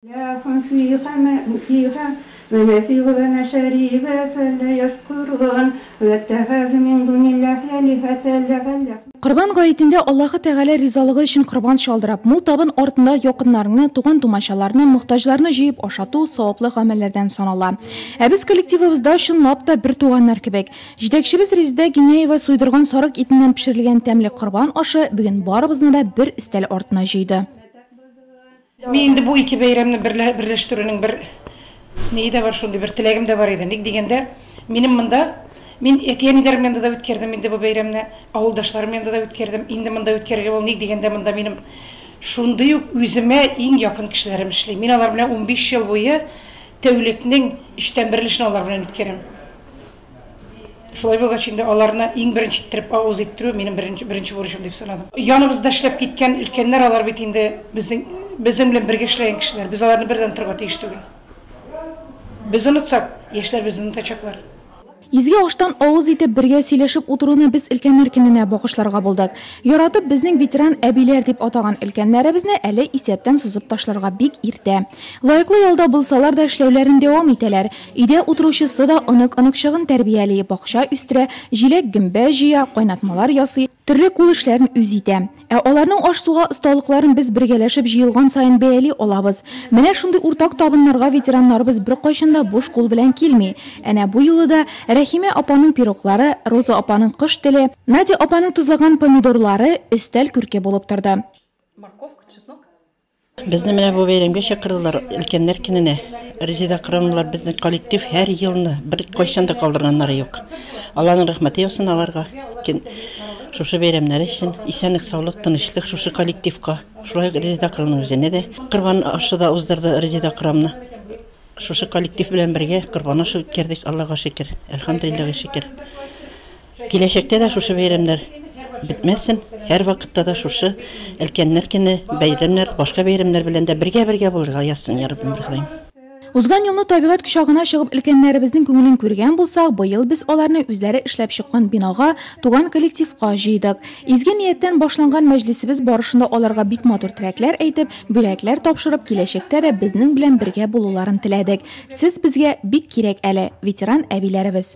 Ләкин фиһә мә фиһә мәнәфи ү вә мәшәриб ү фә лә яшкурун ү тәхәзу мин дунилләһи әлиһәтә ләгаллә Корбан гаетендә Аллаһы Тәгалә ризалыгы өчен корбан чалдырып, мул табын артында якыннарыңны, туган-тумачаларны, мохтаҗларны җыеп ашату саваплы гамәлләрдән санала. Ә без коллективыбызда чынлап та бертуганнар кебек. Җитәкчебез Резедә Гиняева суйдырган сарык итеннән пешерелгән тәмле корбан ашы бүген барыбызны да бер өстәл артына җыйды. Мин инде бу ике бәйрәмне берлә берләштерүнең бер ние дә бар, шундый бер теләгем дә бар иде. Ник дигәндә, минем монда, мин әти-әниләрем янында да үткәрдем инде бу бәйрәмне, авылдашларым янында да үткәрдем, инде монда үткәрергә була. Ник дигәндә, монда минем шундый ук үземә иң якын кешеләрем эшли. Мин алар белән унбиш ел буе тәүлекнең өчтән берен эшне алар белән үткәрәм. Шулай булгач инде аларны иң беренче иттереп авыз иттерү минем беренче беренче бурычым дип санадым. Яныбызда эшләп киткән өлкәннәр алар бит инде безнең безнең белән бергә эшләгән кешеләр. Без аларны бердән онытырга тиеш түгел. Без онытсак, яшьләр безне онытачаклар. Изге аштан авыз итеп бергә сөйләшеп утыруны без өлкәннәр көненә багышларга булдык. Яратып безнең ветеран әбиләр дип атаган өлкәннәребезне әле исәптән сузып ташларга бик иртә. Лаеклы ялда булсалар да эшләүләрен дәвам итәләр. Өйдә утыручысы да онык-оныкчыгын тәрбияли, бакча үстерә, җиләк-гөмбә җыя, кайнатмалар ясый, төрле кул эшләрен үзе итә. Ә аларның аш-суга осталыкларын без бергәләшеп җыелган саен бәяли алабыз. Менә шундый уртак табыннарга ветераннарыбыз беркайчан да буш кул белән килми. Әнә бу юлы да Рәхимә апаның пироглары, Роза апаның кош теле, Надя апаның тозлаган помидорлары өстәл күрке булып торды. Безне менә бу бәйрәмгә чакырдылар, өлкәннәр көненә. Резеда Акрамовалар безнең коллектив һәр елны, беркайчан да калдырганнары юк. Алланың рәхмәте яусын аларга, кин шушы бәйрәмнәре өчен. Исәнлек, саулык, тынычлык шушы коллективка, шулай ук Резеда Акрамовна үзенә дә. Корбан ашы да уздырды Резеда Акрамовна. Шушы коллектив белән бергә корбан ашы үткәрдек, Аллага шөкер, әлхәмдүлилләгә шөкер. Киләчәктә дә шушы бәйрәмнәр бетмәсен, һәрвакытта да шушы Өлкәннәр көне, бәйрәмнәр, башка бәйрәмнәр белән дә бергә-бергә булырга язсын, я Раббым, Ходаем. Узган елны табигать кочагына чыгып өлкәннәребезнең күңелен күргән булсак, быел без аларны үзләре эшләп чыккан бинага, туган коллективка җыйдык. Изге нияттән башланган мәҗлесебез барышында аларга бик матур теләкләр әйтеп, бүләкләр тапшырып, киләчәктә дә безнең белән бергә булуларын теләдек. Сез безгә бик кирәк әле, ветеран әбиләребез.